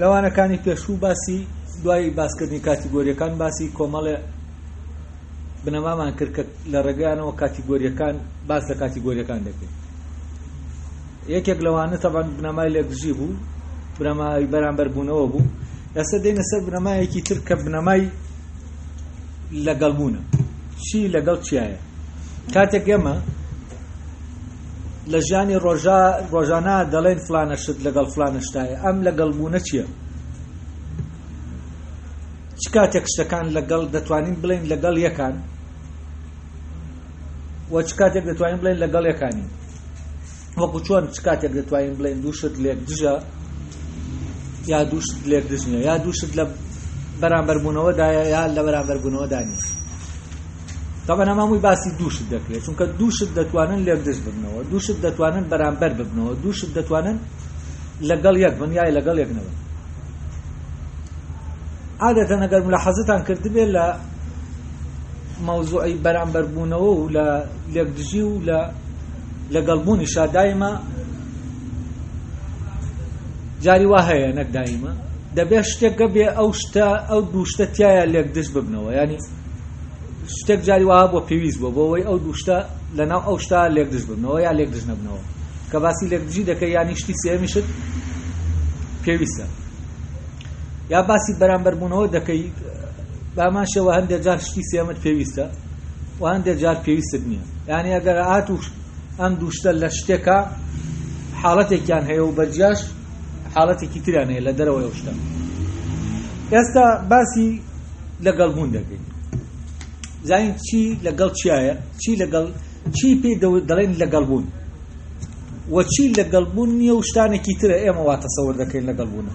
لە وانەکانی پێشوو باسی دوای باسکردنی کاتیگۆریەکان باسی کۆمەڵێ بنەمامان کرد کە لە ڕێگەیانەوە کاتیگۆریەکان باس لە کاتیگۆریەکان دەکەین یەکێک لەوانە تەبان بنەمای لێکدژی بوو بنەمای بەرامبەربوونەوە بوو ئێستا دێنە سەر بنەمایەکی تر کە بنەمای لەگەڵ بوونە چی لەگەڵ چیایە کاتێک ئێمە لە ژیانی ڕۆژا ڕۆژانە دەڵێن فلانە شت لەگەڵ فلانە شتایە ئەم لەگەڵ بوونە چییە چ کاتێک شتەکان لەگەڵ دەتوانین بڵێن لەگەڵ یەکان وە چ کاتێک دەتوانین بڵێن لەگەڵ یەکانی وەکو چۆن چ کاتێک دەتوانین بڵێن دوو شت لێک دژە یا دوو شت لێک دژ نیە یا دوو شت لە بەرامبەربوونەوەدایە یا لە بەرامبەربوونەوەدا نیە تاوان ئەمامووی باسی دووشت دەکرێت چونکە دووشت دەتوانن لێک دژ ببنەوە دووشت دەتوانن بەرامبەر ببنەوە دووشت دەتوانن لەگەڵ یەک بن یای لەگەڵ یەک نەبن عادەتە نەگەر لە حەزتان کردبێ لە مەوزوعی بەرامبەربوونەوە و لە لێکدژی و لە لەگەڵ بوونیشا دایمە جاری وا هەیە نەک دایمە دەبێت شتێک گەبێ ئەو شتە ئەو دوو شتە تایە لێک دژ ببنەوە ینی شتێک جاری وها بۆ پێویست بۆ بۆەوەی ئەو دوو شتە لەناو ئەو شتا لێک دژ ببنەوە یا لێک دژ نەبنەوە کە باسی لێک دژی دەکە یانی شتی سێمیشت پێویستە یا باسی بەرامبەربوونەوە دەکەیت بامان شێوە هەندێک جار شتی سێمت پێویستە و هەندێک جار پێویستت نییە یعنی ئەگەر ئات و ئەم دووشتە لە شتێکە حاڵەتێکیان هەیە و بەجیاش حاڵەتێکی تریان هەیە لە دەرەوە ئەو شتە ئێستا باسی لەگەڵ بوون دەکەین زین چی لەگەڵ چیایە چی لەگەڵ چی پێ دەڵێن لەگەڵ بوون وە چی لەگەڵ بوون نیە و شتانێکی ترە ئێمە واتەسەور دەکەین لەگەڵ بوونە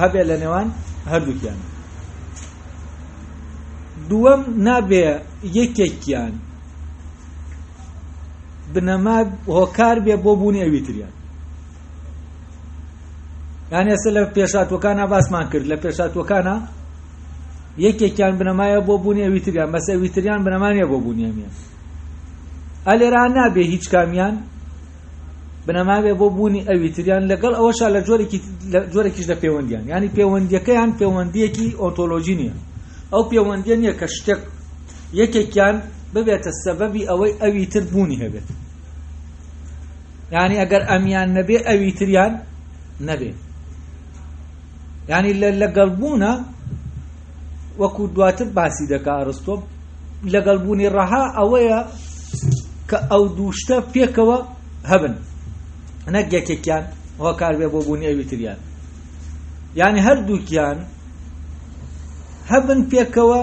هەبێ لە نێوان هەردووکیانە دووەم نابێ یەکێکیان بنەما هۆکار بێ بۆ بوونی ئەوی تریان یان ئێستا لە پێشاتوەکانە باسمان کرد لە پێشاتوەکانە یەکێکیان بنەمایە بۆ بوونی ئەوی تریان بەس ئەوی تریان بنەمانە بۆ بوونیان ئەلێرا نابێ هیچ کامیان بنەمابێ بۆ بوونی ئەوی تریان لەگەڵ ئەوەشا لە جۆرێکیش لە پەیوەندیان ینی پەیوەندیەکەیان پەیوەندیەکی ئۆنتۆلۆژی نییە ئەو پەیوەندیە نییە کە شتێک یەکێکیان ببێتە سەبەبی ئەوەی ئەوی تر بوونی هەبێت ینی ئەگەر ئەمیان نەبێ ئەوی تریان نەبێت ینی لە لەگەڵبوونە وەکو دواتر باسی دەکا ئەرستۆ لەگەڵ بوونی ڕەها ئەوەیە کە ئەو دووشتە پێکەوە هەبن نەک یەکێکیان هۆکار بێ بۆ بوونی ئەوی تریان یعنی هەردووکیان هەبن پێکەوە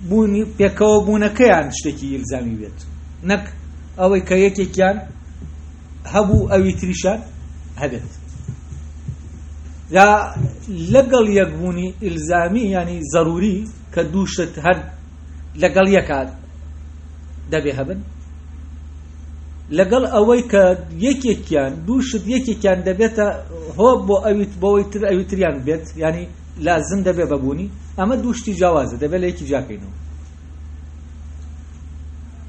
بوونی پێکەوە بوونەکەیان شتێکی ئیلزامی بێت نەک ئەوەی کە یەکێکیان هەبوو ئەوی تریشان هەبێت جا لەگەڵ یەکبوونی ئیلزامی ینی زەروری کە دوو شت هەر لەگەڵ یەکات دەبێ هەبن لەگەڵ ئەوەی کە یەکێکیان دوو شت یەکێکیان دەبێتە هۆ بۆ ئەویت بۆەوەی تر ئەوی تریان بێت ینی لازم دەبێ بەبوونی ئەمە دوو شتی جیاوازە دەبێت لە یەکی جاکەینەوە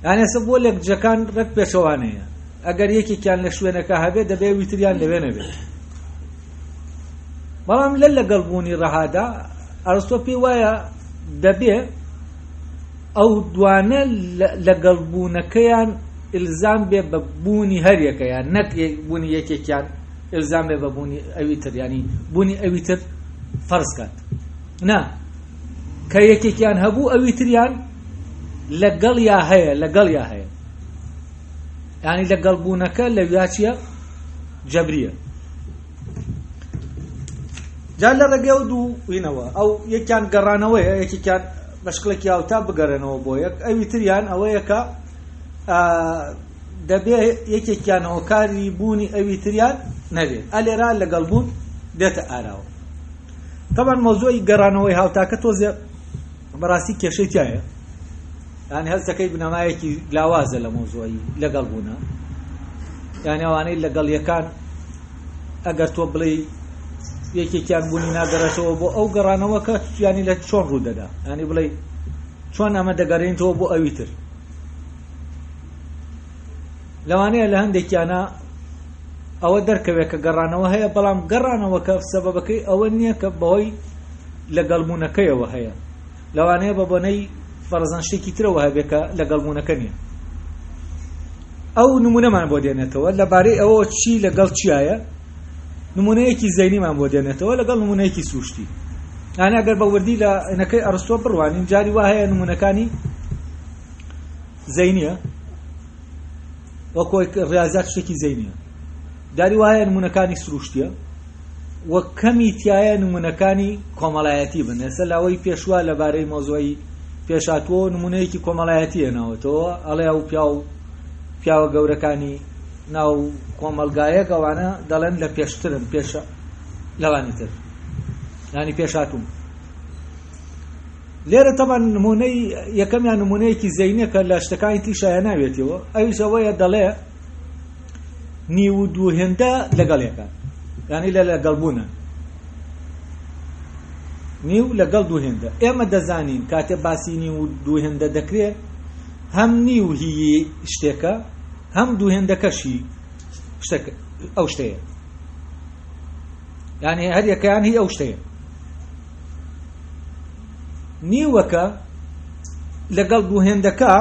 یانێسە بۆ لەکجەکان ڕێک پێچەوانەیە ئەگەر یەکێکیان لە شوێنەکە هەبێت دەبێ ویتریان لەوێ نەبێت بەڵام لە لەگەڵ بوونی ڕەهادا ئەرستۆ پێی وایە دەبێ ئەو دوانە لەگەڵ بوونەکەیان ئلزام بێ بە بوونی هەریەکەیان نەک بوونی یەکێکیان ئلزام بێ بە بوونی ئەوی تر ینی بوونی ئەوی تر فەرزکات نا کە یەکێکیان هەبوو ئەوی تریان لەگەڵیا هەیە لەگەڵیا هەیە ینی لەگەڵ بوونەکە لە ویاچیە جەبریە جا لە ڕێگەی ئەو دوو وینەوە ئەو یەکیان گەڕانەوەیە یەکێکیان بەشکڵێکی یاوتا بگەرێنەوە بۆ یەک ئەوی تریان ئەوەیەکە دەبێ یەکێکیان هۆکاری بوونی ئەوی تریان نەبێت ئەلێرا لەگەڵ بوون دێتە ئاراوە تەبەن مۆزۆی گەڕانەوەی هاوتاکە تۆزێ بەڕاستی کێشەی تایە یان هەستەکەی بنەمایەکی لاوازە لە مۆزۆی لەگەڵ بوونە یان ئەوانەی لەگەڵ یەکان ئەگەر تۆ بڵێ یەکێکیان بوونی ناگەڕێتەوە بۆ ئەو گەڕانەوە کە ینی لە چۆن ڕوو دەدا ینی بڵێ چۆن ئەمە دەگەڕێنەوە بۆ ئەوی تر لەوانەیە لە هەندێکیانا ئەوە دەرکەوێت کە گەڕانەوە هەیە، بەڵام گەڕانەوەکە سەبەبەکەی ئەوە نییە کە بەهۆی لەگەڵبوونەکەیەوە هەیە، لەوانەیە بە بۆنەی فەرەزەن شتێکی ترەوە هەبێت کە لەگەڵبوونەکە نییە. ئەو نموونەمان بۆ دێنێتەوە لەبارەی ئەوەوە چی لەگەڵ چیایە، نموونەیەکی زەینیمان بۆ دێنێتەوە لەگەڵ نموونەیەکی سروشتی. یانە گەر بە وردی لە نەکەی ئەرستۆ بڕوانین جاری وا هەیە نموونەکانی زەینیە وەک ڕاضات شتێکی زەینە داری وایە نمونونەکانی سروشتە وە کەمی تایە نمونونەکانی کۆمەڵایەتی بن ئێستا لاوەی پێشوە لەبارەی مۆزۆی پێشاتوە نمونەیەکی کۆمەڵایەتیە ناوەتەوە ئەڵێ و پیا و پیاوە گەورەکانی ناو کۆمەلگایە گەوانە دەڵێن لە پێشترن پێشە لەوانی تر ینی پێشاتون لێرە تەبەن نمونەی یەکەمیان نمونەیەکی زەینە کە لە شتەکانی تیشا هێناوێتەوە ئەویش ئەوەیە دەڵێ نیو و دوو هێندە لەگەڵ یەکە یعنی لە لەگەڵبوونە نیو لەگەڵ دوو هێندە ئێمە دەزانین کاتێ باسی نیو و دوو هێندە دەکرێت هەم نیو هی شتێکە هەم دوو هێندەکەشی ئەو شتەیە یعنی هەریەکەیان هی ئەو شتەیە نیوەکە لەگەڵ دوو هێندەکە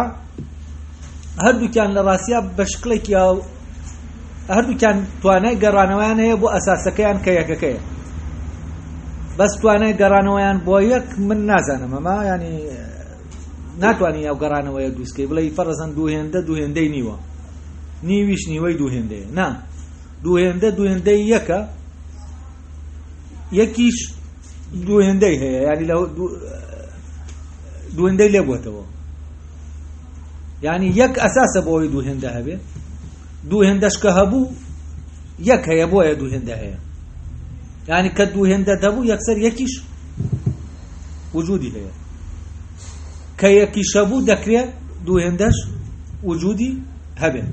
هەردووکیان لە ڕاستیا بە شکڵێکی هەردووکیان توانای گەڕانەوەیان هەیە بۆ ئەساسەکەیان کە یەکەکەیە بەس توانای گەڕانەوەیان بۆ یەک من نازانم ئەمە ینی ناتوانانی ئەو گەڕانەوەیە دووسکەی بڵێ فەرزەن دوو هێندە دوو هێندەی نیوە نیویش نیوەی دوو هێندەیە نا دوو هێندە دوو هێندەی یەکە یەکیش دوو هێندەی هەیە ینی لە دوو هێندەی لێبووتەوە ینی یەک ئەساسە بۆی دوو هێندە هەبێ دوو هێندەشکە هەبوو یەک هەیە بۆیە دوو هێندە هەیە ینی کە دوو هێندە دەبوو یەکسەر یەکیش وجودی هەیە کە یەکی شەبوو دەکرێت دوو هێندەش وجودی هەبێت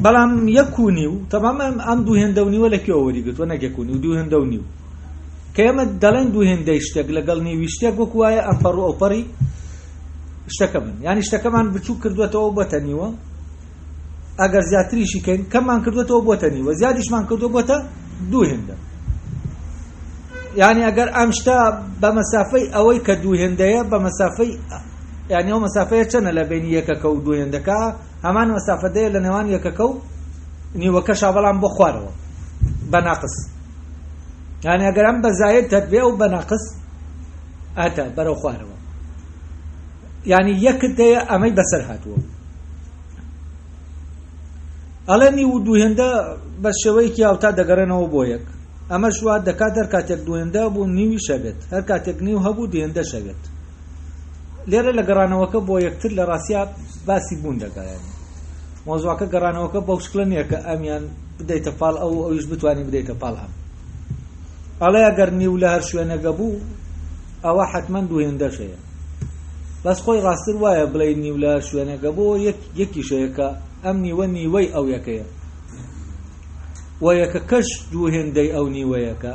بەڵام یەک و نیو تەمام ئەم دوو هێندە و نیوە لە کوێوە وەریگرتووە نەک یەک و نیو دوو هێندە و نیو کە ئێمە دەڵێن دوو هێندەی شتێک لەگەڵ نیوی شتێک وەکو وایە ئەمپەڕ و ئەوپەڕی شتەکە بن یانی شتەکەمان بچوو کردوێتەوە بەتە نیوە ئەگەر زیاتریشی کەین کەممان کردوێتەوە بۆتە نیوە زیادیشمان کردو بۆتە دوو هێندە یعنی ئەگەر ئەم شتا بە مەسافەی ئەوەی کە دوو هێندەیە بە مەسافەی یعنی ئەو مەسافەیە چەنە لە بینی یەکەکە و دوو هێندەکە هەمان مەسافەدەیە لە نێوان یەکەکە و نیوەکەشا بەڵام بۆ خوارەوە بە ناقس یعنی ئەگەر ئەم بە زاید تەتبێ و بە ناقس ئەتە بەرەو خوارەوە یعنی یەکت دەیە ئەمەی بەسەر هاتووە ئەڵێنی و دووهێندە بە شێوەیەکی هاوتا دەگەڕێنەوە بۆ یەک ئەمە شوات دەکات هەر کاتێک دوێندە بوو نیوی شەبێت هەر کاتێک نیو هەبوو دێندە شەوێت لێرە لە گەڕانەوەکە بۆ یەکتر لە ڕاستیا باسی بوون دەگەڕێن مۆزواکە گەڕانەوەکە بەو شکلە نییە کە ئەمیان بدەیتە پاڵ ئەو ئەویش بتانی بدەیتە پاڵ ئەم ئەڵێ ئەگەر نیو لە هەر شوێنەگە بوو ئەوە حتمما دوهێندەش هەیە بەس خۆی ڕاستتر وایە بڵێ نیو لە شوێنەگە بۆ یەکیشەیەکە ئەم نیوە نیوەی ئەو یەکەیە و یەکە کەش دوو هێندەی ئەو نیوەیەکە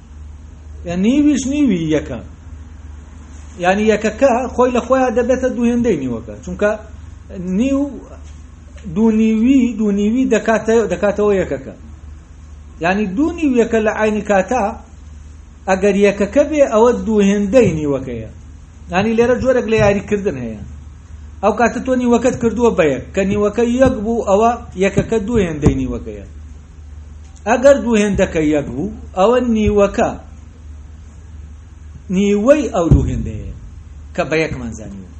یان نیویش نیوی یەکە یعنی یەکەکە خۆی لە خۆیان دەبێتە دووهێندەی نیوەکە چونکە نیو دوونیوی دوونیوی دەکاتەوە یەکەکە یعنی دوونی یەکە لە عینی کاتا ئەگەر یەکەکە بێ ئەوە دووهێندەی نیوەکەیە ینی لێرە جۆرێک لە یاریکردن هەیە ئەو کاتە تۆ نیوەکەت کردووە بەیەک کە نیوەکە یەک بوو ئەوە یەکەکە دووهێندەی نیوەکەیە ئەگەر دوو هێندەکە یەک بوو ئەوە نیوەکە نیوەی ئەو دوو هێندەیە کە بە یەکمان زانیوە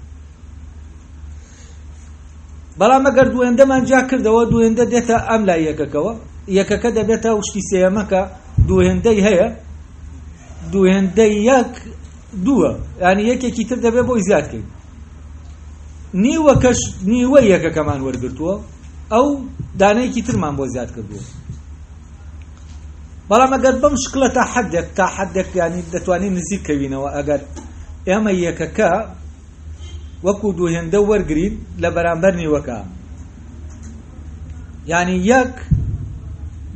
بەڵام ئەگەر دوو هێندەمان جا کردەوە دوو هێندە دێتە ئەم لای یەکەکەوە یەکەکە دەبێتە شتی سێەمەکە دوو هێندەی هەیە دوو هێندەی یەک دووە ینی یەکێکی تر دەبێت بۆی زیادکەین نیوەکەش نیوە یەکەکەمان وەرگتووە ئەو دانەیەکی ترمان بۆ زیاد کردووە بەڵام ئەگەر بەم شکلە تا حدێک تا حدێک ینی دەتوانین نزیک کەوینەوە ئەگەر ئێمە یەکەکە وەکو دوو هێندە وەرگین لە بەرامبەر نیوەکە ینی یەک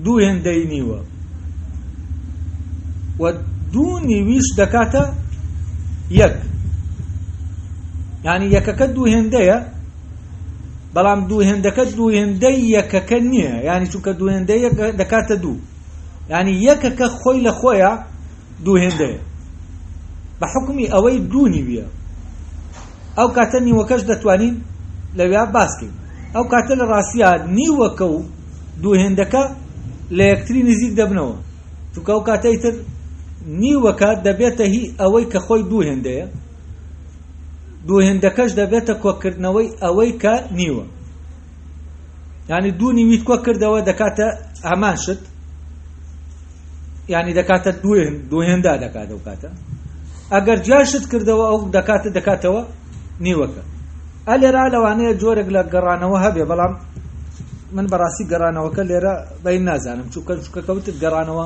دوو هێندەی نیوە و دوو نیویش دەکاتە یەک ینی یەکەکە دوو هێندەیە بەڵام دوو هێندەکە دوو هێندەی یەکەکە نییە ینی چونکە دوو هێندە یەک دەکاتە دوو ینی یەکەکە خۆی لە خۆیە دوو هێندەیە بە حکومی ئەوەی دوو نیویە ئەو کاتە نیوەکەش دەتوانین لەوێ باسکەین ئەو کاتە لە ڕاستە نیوەکە و دوو هێندەکە لە یەکتری نزیک دەبنەوە چونکە ئەو کاتەی تر نیوەکە دەبێتە هی ئەوەی کە خۆی دوو هێندەیە دوو هێندەکەش دەبێتە کۆکردنەوەی ئەوەی کە نیوە ینی دوو نیویت کۆ کردەوە دەکاتە هەمان شت ینی دەکاتە دوو هێندا دەکات ئەو کاتە ئەگەر جاشت کردەوە ئەو دەکاتە دەکاتەوە نیوەکە ئە لێرا لەوانەیە جۆرێک لە گەڕانەوە هەبێ بەڵام من بەڕاستی گەڕانەوەکە لێرە بەین نازانم چونکە چکەکەوتت گەڕانەوە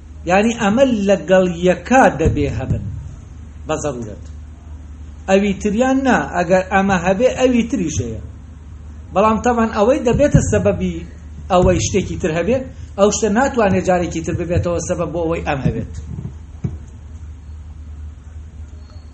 یانی ئەمە لەگەڵ یەکا دەبێ هەبن بە زەرورەت ئەوی تریان نا ئەگەر ئەمە هەبێ ئەوی تریش هەیە بەڵام تەبان ئەوەی دەبێتە سەبەبی ئەوەی شتێکی تر هەبێ ئەو شتە ناتوانێت جارێکی تر ببێتەوە سەبەب بۆ ئەوەی ئەم هەبێت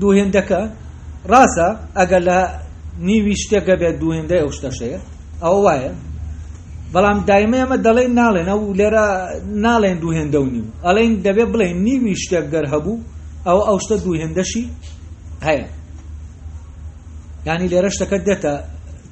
دوو هێندەکە ڕاستە ئەگەر لە نیوی شتێکە بێت دوو هێندەی ئەو شتەشەیە ئەوە وایە بەڵام دایمە ئەمە دەڵێن ناڵێن ئەو لێرە ناڵێن دوو هێندە و نیو ئەڵێن دەبێ بڵێن نیوی شتێک گەر هەبوو ئەو ئەو شتە دوو هێندەشی هەیە ینی لێرە شتەکە دێتە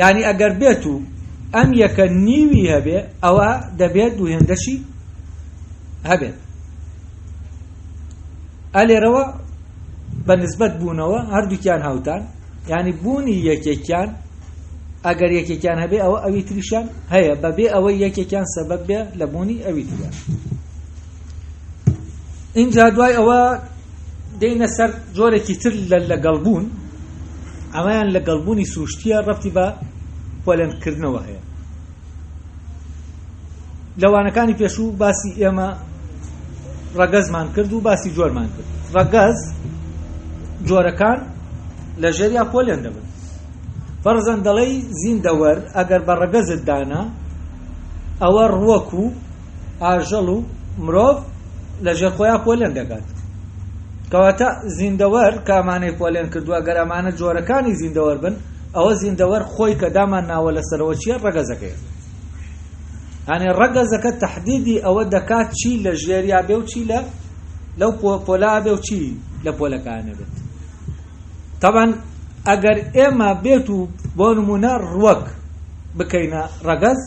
یعنی ئەگەر بێت و ئەم یەکە نیوی هەبێ ئەوە دەبێت دوو هێندەشی هەبێت ئەلێرەوە بە نسبەت بوونەوە هەردووکیان هاوتان ینی بوونی یەکێکیان ئەگەر یەکێکیان هەبێ ئەوە ئەوی تریشان هەیە بەبێ ئەوەی یەکێکیان سەبەت بێ لە بوونی ئەوی تریان ئینجا دوای ئەوە دێینە سەر جۆرێکی تر لە لەگەڵبوون ئەمەیان لەگەڵبوونی سروشتیە ڕەتی بە پۆلێنکردنەوە هەیە لەوانەکانی پێشوو باسی ئێمە ڕەگەزمان کرد و باسی جۆرمان کرد ڕەگەز جۆرەکان لە ژێریا پۆلێن دەبن فەرزەن دەڵی زیندەوەر ئەگەر بە ڕەگەزت دانا ئەوە ڕوەک و ئاژەڵ و مرۆڤ لە ژێر خۆیان پۆلێن دەکات کەواتە زیندەوەر کامانەی پۆلێن کردووە گەر ئەمانە جۆرەکانی زیندەوەر بن ئەوە زیندەوەر خۆی کە دامان ناوە لەسەرەوە چیە ڕەگەزەکەی هەنێ ڕەگەزەکە تهدیدی ئەوە دەکات چی لە ژێریا بێ و چی لە لەو پۆلا بێ و چی لە پۆلەکانە بێت تاوان ئەگەر ئێمە بێت و بۆ نمونە ڕوەک بکەینە ڕەگەز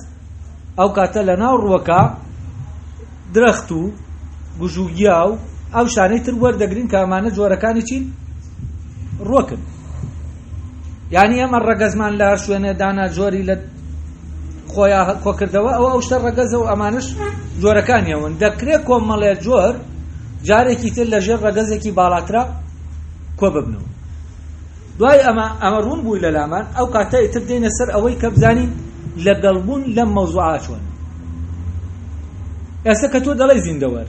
ئەو کاتە لە ناو ڕووەکە درەخت و گژوگیا و ئەو شانەی تر وەردەگرین کە ئەمانە جۆرەکانی چین ڕۆکن یعنی ئەمە ڕەگەزمان لە شوێنێ دانا جۆری لە خۆیان کۆکردەوە ئەو ئەو شتە ڕەگەزە و ئەمانش جۆرەکانیەوەن دەکرێت کۆمەڵێ جۆر جارێکی تر لەژێر ڕەگەزێکی باڵاترا کۆ ببنەوە دوای ئەمە، ئەمە ڕوون بوو لە لامان، ئەو کاتە ئیتر دێینە سەر ئەوەی کە بزانین لە گەڵ بوون لەم مەوزوعە چۆنە. ئێستە کە تۆ دەڵێی زیندەوەر،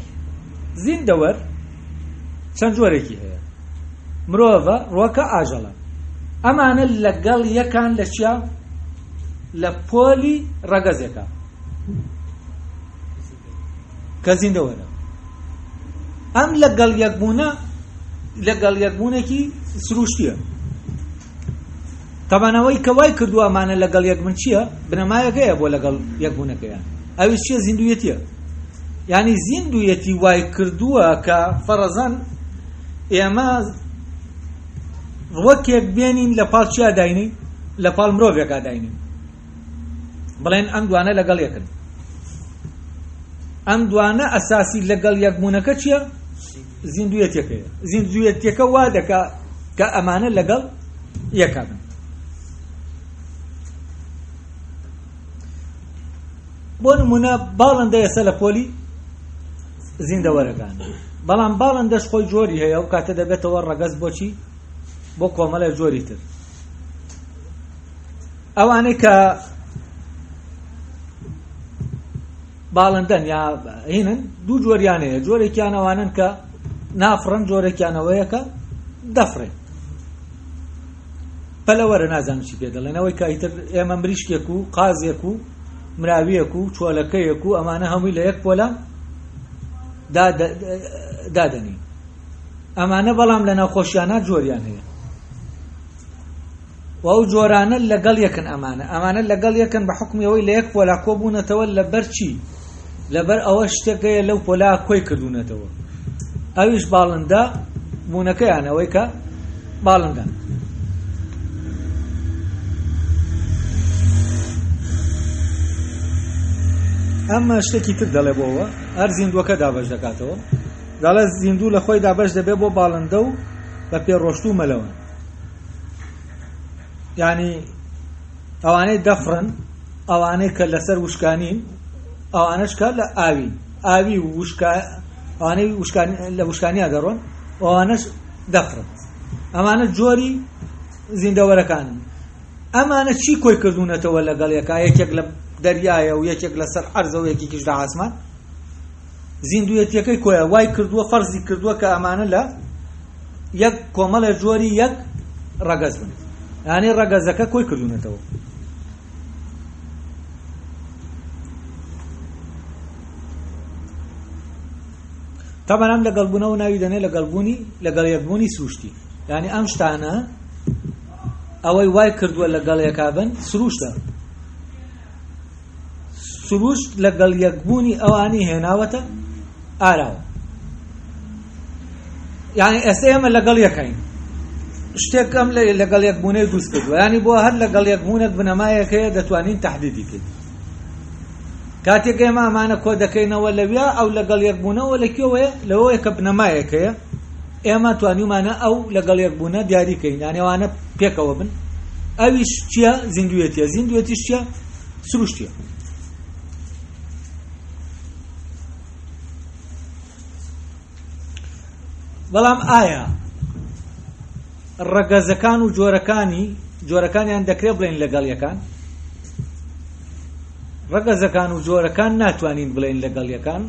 زیندەوەر چەند جۆرێکی هەیە، مرۆڤە، ڕوەکە، ئاژەڵە. ئەمانە لە گەڵ یەکان لە چیا؟ لە پۆلی ڕەگەزێکا. کە زیندەوە نەبوو ئەم لەگەڵ یەکبوونە لەگەڵ یەکبوونێکی سروشتیە تەبانەوەی کە وای کردووە ئەمانە لەگەڵ یەکبن چییە بنەمایەکەیە بۆ لەگەڵ یەکبوونەکەیان ئەوی چیە زیندویەتیە ینی زیندویەتی وای کردووە کە فەرەزان ئێمە ڕوەکێک بێنین لە پاڵ چیا داینین لە پاڵ مرۆڤێکا داینین بڵێن ئەم دوانە لەگەڵ یەکن ئەم دوانە ئەساسی لەگەڵ یەکبوونەکە چییە زیندویەتەکەی زیندویەتەکە وا دەکا کە ئەمانە لەگەڵ یەکە بن بۆ نمونە باڵندە ئێستا لە پۆلی زیندەوەرەکان بەڵام باڵندەش خۆی جۆری هەیە و کاتە دەبێتەوە ڕەگەز بۆچی بۆ کۆمەڵە جۆری تر ئەوانەی کە باڵندەن یا هینن دوو جۆریان هەیە جۆرێکیان ئەوانن کە نافڕن جۆرێکیانەوەیە کە دەفرێن پەلەوەرە نازانم چی پێ دەڵێنەوەی کایتر ئێمە مریشکێک و قازێک و مراویەک و چۆلەکەیەک و ئەمانە هەمووی لە یەک پۆلە دادەنین ئەمانە بەڵام لە ناوخۆشیانە جۆریان هەیە و ئەو جۆرانە لەگەڵ یەکن ئەمانە ئەمانە لەگەڵ یەکن بە حوکمی ئەوەی لە یەک پۆلا کۆ بوونەتەوە لەبەر چی لەبەر ئەوە شتێک هەیە لەو پۆلا کۆی کردوونەتەوە ئەویش باڵندە بوونەکەیان ئەوەی کە باڵندە ئەمە شتێکی تر دەڵێ بۆەوە هەر زیندوەکە دابش دەکاتەوە دەڵێ زیندوو لە خۆی دابش دەبێت بۆ باڵندە و بە پێڕۆشت و مەلەوە یعنی ئەوانەی دەفڕن ئەوانەی کە لەسەر وشکانین ئەوانش کە لە ئاوی ئاوی ئەوانەی لە وشکانیا دەڕۆن ئەوانش دەفڕن ئەمانە جۆری زیندەوەرەکان ئەمانە چی کۆی کردوونەتەوە لەگەڵ یەکە یەکێک لە دەریایە و یەکێک لەسەر عەرزەوە یەکێکیش لە ئاسمان زیندووێتییەکەی کۆیە وای کردووە فەرزی کردووە کە ئەمانە لە یەک کۆمەڵێ جۆری یەک ڕەگەز بن یانەی ڕەگەزەکە کۆی کردوونەتەوە تەمەنام لەگەڵ بوونەوە ناوی دەنێ لەگەڵ بوونی لەگەڵ یەکبوونی سروشتی یعنی ئەم شتانە ئەوەی وای کردووە لەگەڵ یەکا بن سروشتە سروشت لەگەڵ یەکبوونی ئەوانی هێناوەتە ئاراوە یعنی ئێستا ئێمە لەگەڵ یەکەین شتێکم لەگەڵ یەکبوونەی دروست کردووە ینی بۆ هەر لەگەڵ یەکبوونەک بنەمایەکەیە دەتوانین تهدیدی کرد کاتێک ئێمە ئەمانە کۆ دەکەینەوە لەویا ئەو لەگەڵ یەکبوونەوە لە کوێوەیە لەوەیە کە بنەمایەکەیە ئێمە توانیومانە ئەو لەگەڵ یەک بوونە دیاری کەین یانی ئەوانە پێکەوە بن ئەویش چییە زیندوێتیە زیندوێتیش چییە سروشتیە بەڵام ئایا ڕەگەزەکان و جۆرەکانی جۆرەکانیان دەکرێت بڵێن لەگەڵ یەکان ڕەگەزەکان و جۆرەکان ناتوانین بڵێن لەگەڵ یەکان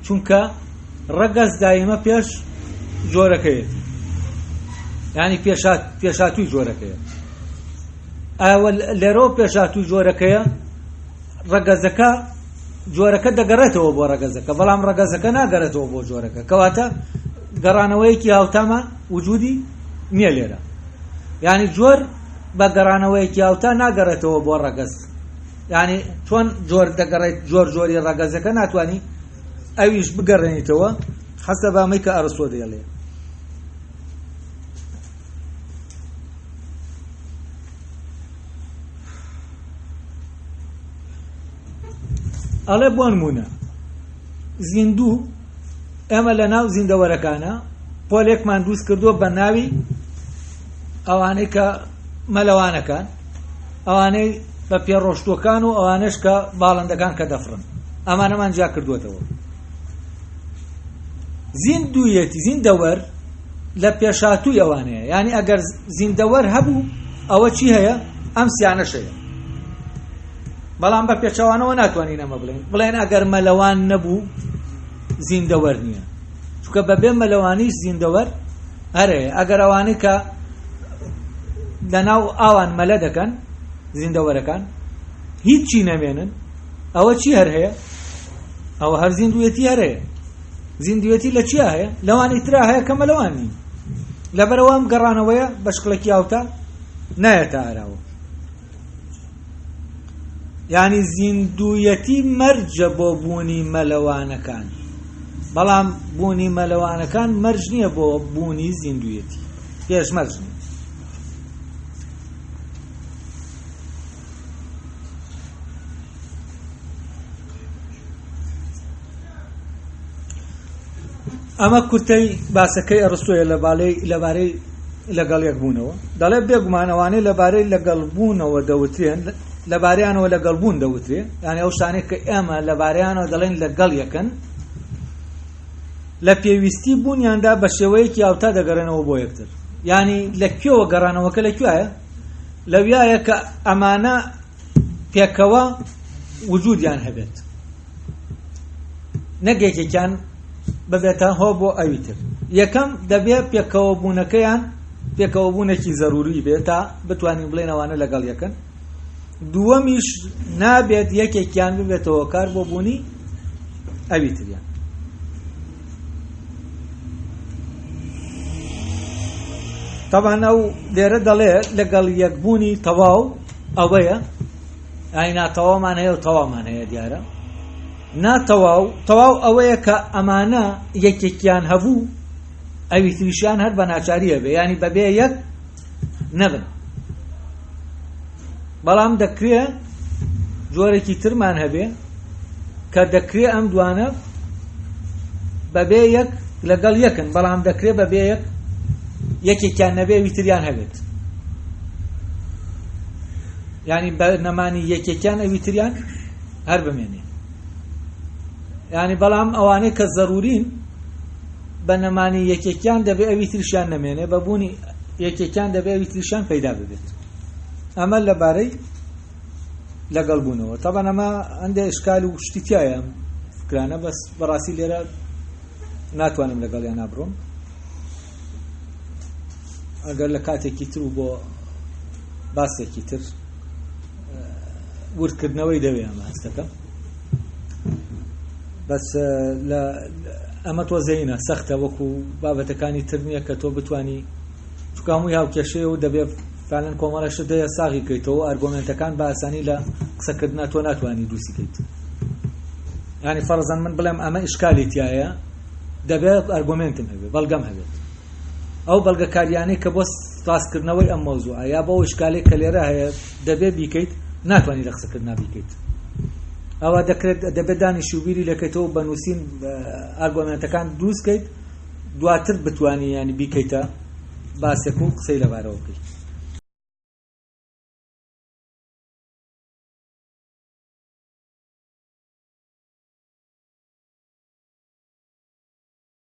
چونکە ڕەگەز دایمە پێش جۆرەکەیەتی ینی پێشاتوی جۆرەکەیە ئەوە لێرەوە پێشاتوی جۆرەکەیە ڕەگەزەکە جۆرەکە دەگەڕێتەوە بۆ ڕەگەزەکە بەڵام ڕەگەزەکە ناگەرێتەوە بۆ جۆرەکە کەواتە گەڕانەوەیەکی هاوتامە وجودی نییە لێرە ینی جۆر بە گەڕانەوەیەکی هاوتا ناگەڕێتەوە بۆ ڕەگەز ینی چۆن جۆر دەگەڕێت جۆر جۆری ڕەگەزەکە ناتوانانی ئەویش بگەڕێنیتەوە حەسە بامەی کە ئەڕستۆ دەیڵێ. ئەڵێ بۆن مونە زیندوو ئێمە لە ناو زیندەوەرەکانە پۆلێکمان دروست کردووە بە ناوی ئەوانەی کە مەلەوانەکان ئەوانەی بە پێڕۆشتوەکان و ئەوانش کە باڵندەکان کە دەفرن ئەمانەمان جیا کردوێتەوە زیندویەتی زیندەوەر لە پێشاتوی ئەوانەیە ینی ئەگەر زیندەوەر هەبوو ئەوە چی هەیە ئەم سیانەشەیە بەڵام بە پێچوانەوە ناتوانین ئەمە بڵێن بڵێن ئەگەر مەلەوان نەبوو زیندەوەر نییە چونکە بەبێ مەلەوانیش زیندەوەر ئەرێ ئەگەر ئەوانەی کە لەناو ئاوان مەلە دەکەن زیندەوەرەکان هیچی نەمێنن ئەوە چی هەر هەیە ئەوە هەر زیندوێتی هەر هەیە زیندوێتی لە چیا هەیە لەوانی ترا هەیە کەمە لەوان نین لەبەرەوەم گەڕانەوەیە بە شکڵێکی یاوتا نایەتە ئاراوە یانی زیندویەتی مەرجە بۆ بوونی مەلەوانەکان بەڵام بوونی مەلەوانەکان مەرج نییە بۆ بوونی زیندویەتی پێش مەرج نیە ئەمە کورتەی باسەکەی ئەرستۆیە لەبارەی لەگەڵ یەکبوونەوە دەڵێ بێگومان ئەوانەی لەبارەی لەگەڵ بوونەوە دەوترێن لەبارەیانەوە لەگەڵ بوون دەوترێ یانە ئەو شتانێک کە ئێمە لەبارەیانەوە دەڵێن لەگەڵ یەکەن لە پێویستی بوونیاندا بە شێوەیەکی یاوتا دەگەڕێنەوە بۆ یەکتر ینی لە کوێوە گەڕانەوەکە لە کوایە لەویایە کە ئەمانە پێکەوە وجودیان هەبێت نەک یەکێکیان ببێتە هۆ بۆ ئەوی تر یەکەم دەبێ پێکەوە بوونەکەیان پێکەوە بوونێکی زەروری بێت تا بتوانین بڵێنەوانە لەگەڵ یەکەن دووەمیش نابێت یەکێکیان ببێتەوە کار بۆ بوونی ئەوی تریان تەبان ئەو لێرە دەڵێ لەگەڵ یەکبوونی تەواو ئەوەیە ئای ناتەوامان هەیە و تەوامان هەیە دیارە ناتەواو تەواو ئەوەیە کە ئەمانە یەکێکیان هەبوو ئەوی تریشیان هەر بە ناچاریە بێ ینی بەبێ یەک نەبن بەڵام دەکرێ جۆرێکی ترمان هەبێ کە دەکرێ ئەم دوانە بەبێ یەک لەگەڵ یەکن بەڵام دەکرێ بەبێ یەک یەکێکیان نەبێ ویتریان هەبێت ینی بە نەمانی یەکێکیان ئەویتریان هەر بمێنێ ینی بەڵام ئەوانەی کە زەرورین بە نەمانی یەکێکیان دەبێ ئەوی تریشیان نەمێنێ بە بوونی یەکێکیان دەبێ ئەوی تریشیان پەیدا ببێت ئەمە لەبارەی لەگەڵ بوونەوە تەبەن ئەمە ئەندێ ئشکال و شتی تایە فکرانە بەس بەڕاستی لێرە ناتوانم لەگەڵیان نابڕۆم ئەگەر لە کاتێکی تر و بۆ باسێکی تر وردکردنەوەی دەوێ ئەمە هەستەکە بەس لە ئەمە تۆزەینە سەختە وەکو بابەتەکانی تر نییە کە تۆ بتانی چکاموی هاوکێشەیە و دەبێت فالەن کۆمەڵەش دەیە ساغی کەیتەوە ئەرگۆمنتەکان باسانی لە قسەکردنا تۆ ناتوانانی دووسی کەیت ینی فەرزان من بڵێم ئەمە ئیشکالی تایە دەبێت ئەرگۆمنتم هەبێت بەڵگەم هەبێت ئەو بەڵگەکاریانەی کە بۆ ڕاستکردنەوەی ئەم مەوزوعە یا بۆ ئەو شکالەی کە لێرە هەیە دەبێ بیکەیت ناتوانانی لە قسەکردنا بیکەیت ئەوە دەکرێت دەبێت دانی شوبیری لەکەیتەوە بە نووسین ئارگۆمنتەکان دروستکەیت دواتر بتانی ینی بیکەیتە باسێک و قسەی لەبارەوە بکەیت